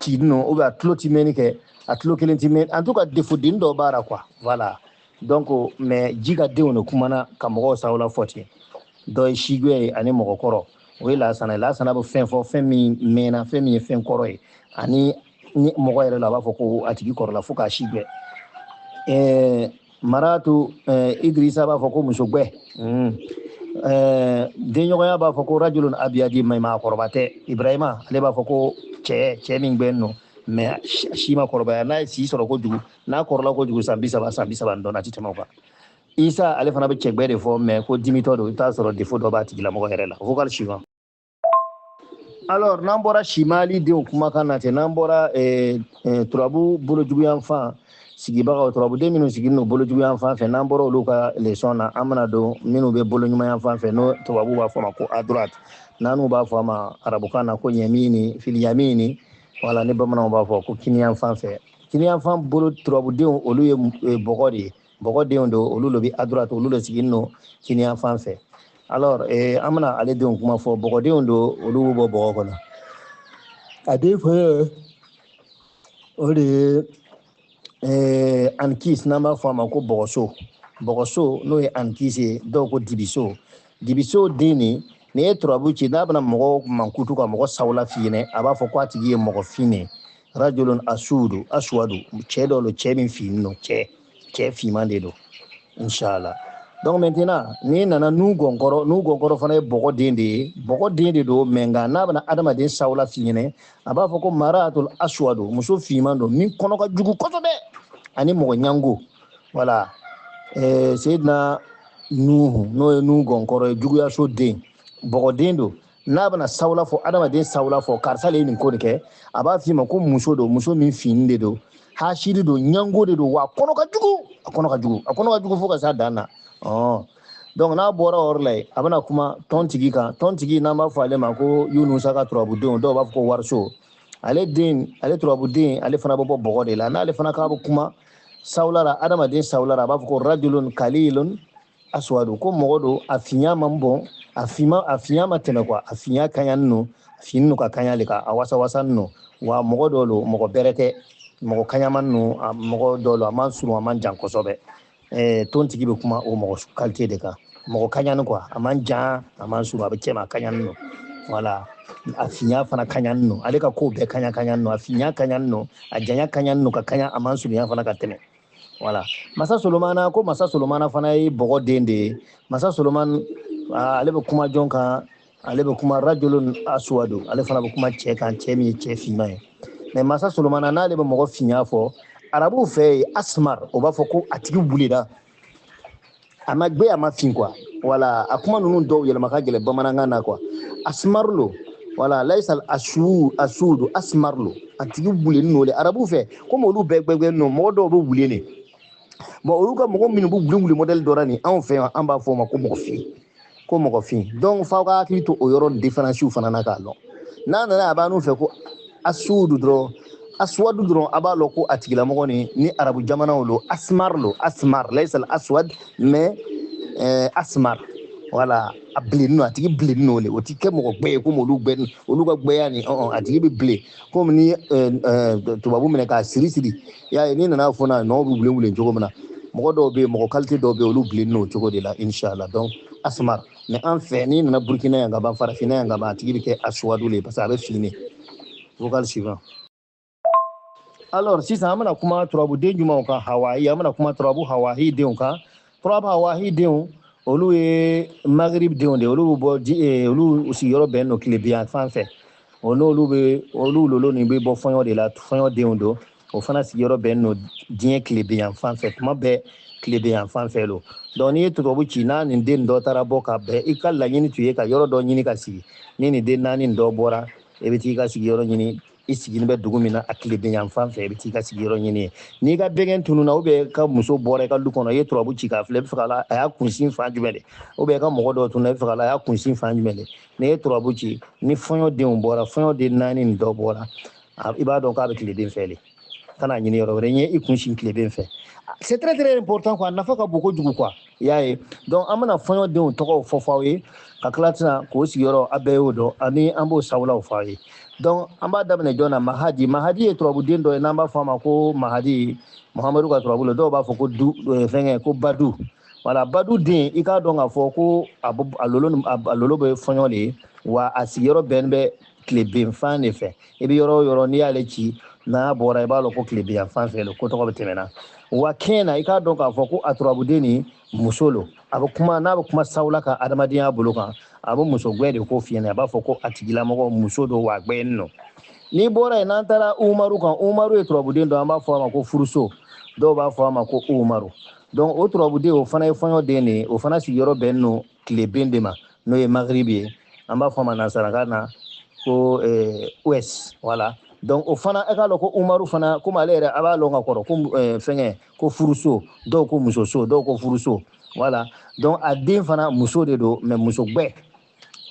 ci nɔ o bɛ a tulo ti mɛnni kɛ a tulo kelen ti mɛn en tout cas defo den dɔ b'a la quoi voilà donc mais ji ka denw de kumana ka mɔgɔw sawula fɔ ten dɔ ye sigbɛ ye ani mɔgɔkɔrɔ o ye lasana ye lasana bɛ fɛn fɔ fɛn min mɛnna fɛn min ye fɛn kɔrɔ ye ani ni mɔgɔ yɛrɛ la a b'a fɔ ko a tigi kɔrɔla fo k'a si gbɛ maratu eh, idrisa b'a fɔ ko muso gbɛ mm. eh, denɲɔgɔnya b'a fɔ ko rajulun abiyadi mais maakɔrɔba tɛ ibrahima ale b'a fɔ ko cɛ cɛ min gbɛn nɔ mais si ma kɔrɔbaya n'a ye si sɔrɔ kojugu n'a kɔrɔla kojugu san bi saba san bi saba dɔrɔn a ti tɛmɛ o kan isa ale fana bɛ cɛgbɛ de fɔ mais ko dimitɔ don i t'a sɔrɔ defo dɔ b'a tigilamɔgɔ yɛrɛ la vocal suivant alors n'an bɔra simali denw kumakan na ten n'an bɔra eh, eh, turabu bolojuguyanfan sigibagaw turabuden minnu sigilen don bolojuguyan fan fɛ n'an bɔra olu ka lesɔn na an bɛna don minnu bɛ boloɲumanya fan fɛ n'o tubabu b'a fɔ a ma ko à droite n'anw b'a fɔ a ma arabukan na ko yamini fil yamini wala ni bamananw b'a fɔ ko kiniyan fan fɛ kiniyan fan bolo turabudenw olu ye e, bɔgɔ de ye bɔgɔ denw don olu lo bi à droite olu lo sigin no kiniyan fan fɛ alors eh, an bɛna ale denw kuma fɔ bɔgɔdenw don olu bɛ bɔ bɔgɔ kɔnɔ a den fɔlɔ o de ye eh, ankis n'an b'a fɔ a ma ko bɔgɔso bɔgɔso n'o ye ankis ye dɔw ko dibiso dibiso den nin n'i ye turabu ci n'a bɛna mɔgɔ mankutu ka mɔgɔ sawula f'i ɲɛna a b'a fɔ ko a tigi ye mɔgɔ fin de ye rajulun asudu aswadu cɛ dɔ don cɛ min fin don cɛ cɛ finman de don inshallah donc maintenant n'i nana nuhu gɔnkɔrɔ nuhu gɔnkɔrɔ fana ye bɔgɔ den de ye bɔgɔ den de don mais nka n'a bɛna adamaden sawula f'i ɲɛna a b'a fɔ ko maratul aswadu muso finman don min kɔnɔ ka jugu kosɛbɛ ani mɔgɔ ɲango voilà eh, seyidina nuhu n'o ye nuhu gɔnkɔrɔ ye juguyaso den bɔgɔden don n'a bɛna sawula fɔ adamaden sawula fɔ karisa le ye nin ko de kɛ a b'a f'i ma ko muso don muso min fin de don hasiri don ɲango de don wa a kɔnɔ ka jugu a kɔnɔ ka jugu a kɔnɔ ka jugu fo ka se a dan na ɔn donc n'an bɔra o yɔrɔ la yen an bɛna kuma tontigi kan tontigi n'an b'a fɔ ale ma ko yunusa nka turabudenw dɔw b'a fɔ ko wariso ale den ale turabuden ale fana bɛ bɔ bɔgɔ de la n'ale fana k'a bɛ kuma sawula la adamaden sawula la a b'a fɔ ko rajulun kalilun aswadu ko mɔgɔ don a finya man bon a fima a finya ma tɛmɛ quoi a finya kaɲa nɔ a fin nɔ ka kaɲa le ka a wasa wasa nɔ wa mɔgɔ dɔ lo mɔgɔ bɛrɛ tɛ mɔgɔ kaɲama nɔ a mɔgɔ dɔ lo a man surun a man jan kosɛbɛ ɛɛ tontigi bɛ kuma o mɔgɔ kalite de kan mɔgɔ kaɲani quoi a man jan a man surun a bɛ cɛma a kaɲani nɔ voilà a finya fana kaɲani nɔ ale ka kow bɛɛ kaɲa kaɲani nɔ a finya kaɲani nɔ a janya kaɲani nɔ ka kaɲa a ma surunya fana ka tɛmɛ voilà masa solomana ko masa solomana fana ye bɔgɔ den de ye masa solomana ah, ale bɛ kuma jɔn kan ale bɛ kuma rajulun aswadu ale fana bɛ kuma cɛ kan cɛ min ye cɛ finman ye mais masa solomana n'ale bɛ mɔgɔ finya fɔ arabuw fɛ yen asmar o b'a fɔ ko a tigi wulenna a ma gbɛ a ma fin quoi voilà a kuma ninnu dɔw yɛlɛma ka gɛlɛn bamanankan na quoi asmaru lo voilà laisal asu asudu asmaru lo a tigi wulenin no le arabu fɛ komi olu bɛɛ gbɛgbɛnin no mɔgɔ dɔw bɛ wulen bon olu ka mɔgɔ minnu bɛ wulenwulen mɔdɛli dɔ ra nin anw fɛ yan an b'a fɔ o ma ko mɔgɔ fin ko mɔgɔ fin donc f'aw ka hakili to o yɔrɔ diferansiw fana na k'a lɔn n'a nana a b'a n'u fɛ ko asudu dɔrɔn aswadu dɔrɔn a b'a lɔn ko a tigilamɔgɔ ni ni arabu jamanaw lo asmar lo asmar laisal aswad mais eh, asmar voilà a bilenni no a tigi bilenni no le o ti kɛ mɔgɔ gbɛ ye komi olu gbɛ olu ka gbɛya ni ɔn a tigi bɛ bilen komi ni tubabu minɛ k'a siri siri i y'a ye n'i nana foni a nɔ bɛ wulenwulen cogo min na mɔgɔ dɔw bɛ yen mɔgɔ kalite dɔw bɛ yen olu bilennin o cogo de la inshala donc asmar mais an fɛ n'i nana burukina yan ka ban farafinna yan ka ban a tigi bɛ kɛ asuwadu le parce que a bɛ fin vocal suivant alors sisan an bɛna kuma turabuden jumɛnw kan hawaii an bɛna kuma turabu hawaii denw kan turabu hawaii denw olu ye magrib denw de olu bɛ bɔ ji eh, olu sigiyɔrɔ bɛnnen don tileben yan fan fɛ o n'olu bɛ olu lolo nin bɛ bɔ fɔɲɔ de la fɔɲɔ denw don o fana sigiyɔrɔ bɛnnen don diɲɛ tileben yan fan fɛ tuma bɛɛ tileben yan fan fɛ don donc n'i ye turabu ci n'a nin den dɔ taara bɔ ka bɛn i ka laɲini tun ye ka yɔrɔ dɔ ɲini ka sigi ni nin den naani dɔ bɔra i bɛ t'i ka sigiyɔrɔ ɲini i sigini bɛ dugu min na a tileben yan fan fɛ i bɛ t'i ka sigiyɔrɔ ɲini yen n'i ka bɛgɛn tununa ou bien i ka muso bɔra i ka du kɔnɔ i ye turabu ci k'a filɛ yala a y'a kunsin fan jumɛn de ou bien i ka mɔgɔ dɔ tununa yala a y'a kunsin fan jumɛn de n'i ye turabu ci ni fɔɲɔdenw bɔra fɔɲɔden naani nin dɔ bɔra i b'a dɔn k'a bɛ tileben fɛ de kana ɲini yɔrɔ wɛrɛ n ye i kunsin tileben fɛ c'est très très important quoi a nafa ka bon kojugu quoi i y'a ye donc an bɛna fɔɲɔdenw tɔgɔw fɔ fɔ aw ye ka tila tɛna k'o sigiyɔrɔ a bɛɛ y'o dɔn ani an b'o sawulaw fɔ aw ye donc an b'a daminɛ jɔn na mahadi mahadi ye turabuden dɔ ye n'an b'a fɔ a ma ko mahadi muhamadu ka turabu la dɔw b'a fɔ ko du eh, fɛnkɛ ko badu wala badu den i k'a dɔn k'a fɔ ko a lolo bɛ fɔɲɔ de ye wa a sigiyɔrɔ bɛnnen bɛ tilebenfan de fɛ i bɛ yɔrɔ o yɔrɔ n'i y'ale ci n'a bɔra i b'a lɔn ko tileben yan fan fɛ lo ko tɔgɔ bɛ tɛmɛna wa kɛn na i k'a dɔn k'a fɔ ko a turabuden nin muso lo a bɛ kuma n'a bɛ kuma sawula kan adamadenya bolo kan a bɛ muso gbɛ de kofɔ i ɲɛ na a b'a fɔ ko a tigilamɔgɔ muso don wa gbɛnin no n'i bɔra yen n'an taara umaru kan umaru ye turabuden dɔ an b'a fɔ a ma ko furuso dɔw b'a fɔ a ma ko umaru donc o turabuden o fana ye fɔɲɔ den de ye o fana sigiyɔrɔ bɛnnen don tileben de ma n'o ye magribi ye an b'a fɔ a ma nansarakan na ko eh, ouest voilà donc o fana e k'a lɔn ko umaru fana komi ale yɛrɛ a b'a lɔn ka kɔrɔ ko eh, fɛngɛ ko furuso dɔw ko musoso dɔw ko furuso voilà donc a den fana muso de don mais muso gbɛ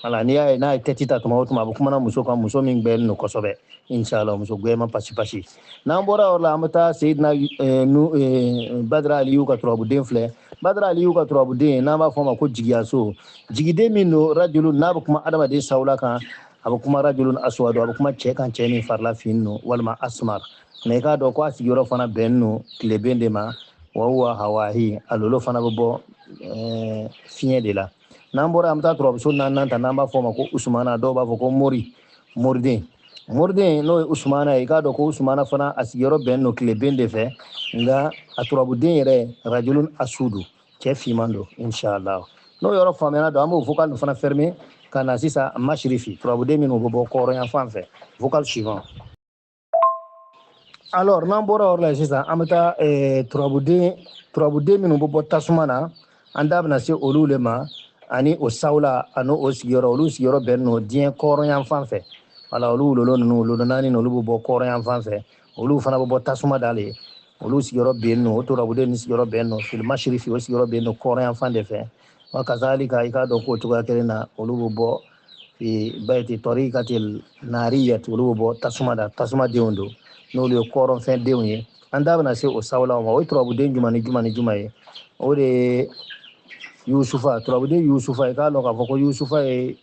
voilà n'i y'a ye n'a ye tɛti ta tuma o tuma a bɛ kumana muso kan muso min gbɛlen don kosɛbɛ inshallah muso gbɛman pasi pasi n'an bɔra yɔrɔ la an bɛ taa seyidina eh, nu eh, badara aliyu ka turabuden filɛ badara aliyu ka turabuden n'an b'a fɔ a ma ko jigiyaso jigiden min don rajulu n'a bɛ kuma adamaden sawula kan a bɛ kuma rajulun aswadu a bɛ kuma cɛ kan cɛ min farila fin don walima asmar mais i k'a dɔn ko a sigiyɔrɔ fana bɛnnen don tileben de ma wa huwa hawahi a lolo fana bɛ bɔ eh, fiɲɛ de la n'an bɔra an bɛ taa turabuso naaninan ta n'an b'a fɔ o ma ko usumana dɔw b'a fɔ ko mori moriden moriden n'o ye usumana ye i k'a dɔn ko usumana fana a sigiyɔrɔ bɛnnen don tileben de fɛ nka a turabuden yɛrɛ rajulun aswadu cɛ finman don inshallah n'o yɔrɔ faamuyana don an b'o vocal fana fermer ka na sisan masirifi turabuden minnu bɛ bɔ kɔrɔnyan fan fɛ vocal suivant alors n'an bɔra yɔrɔ la sisan an bɛ taa eh, turabuden turabuden minnu bɛ bɔ tasuma na an da bɛna se olu le ma ani o sawula ani o sigiyɔrɔ olu sigiyɔrɔ bɛnnen don diɲɛ kɔrɔnyan fan fɛ voilà olu o lolo ninnu o lolo naani olu bɛ bɔ kɔrɔnyan fan fɛ olu fana bɛ bɔ tasuma de la olu sigiyɔrɔ bɛnnen don o turabuden ni sigiyɔrɔ bɛnnen don fil masirifi o sigiyɔrɔ bɛnnen don kɔrɔnyan fan de fɛ wa kazalika i k'a dɔn k'o cogoya kelen na olu bɛ bɔ fi bayti tariqatil nariyat olu bɛ bɔ tasuma la tasuma denw don n'olu ye kɔrɔnfɛn denw ye an da bɛna se o sawulaw ma o ye turabuden juma ni juma ni juma ye o de ye yusufa turabuden yusufa i k'a dɔn k'a fɔ ko yusufa ye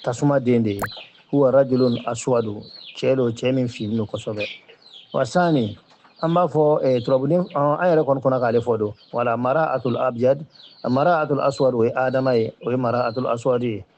tasuma den de ye huwa rajulun aswadu cɛ don cɛ min finnen don kosɛbɛ wa sani an b'a fɔ eh, turabuden an yɛrɛ kɔni kɔnna k'ale fɔ don wala mara atul abjad mara atul aswad o ye adama ye o ye mara atul aswad ye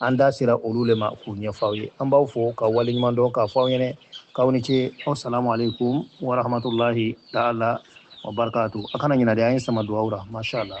an da sera olu le ma k'u ɲɛfɔ aw ye an b'aw fo ka waleɲuman dɔn k'a fɔ aw ɲɛna k'aw ni ce asalamu aleykum warahmatulahi taala wa barakatu a kana ɲinɛ de an ye sama duwawu la masha allah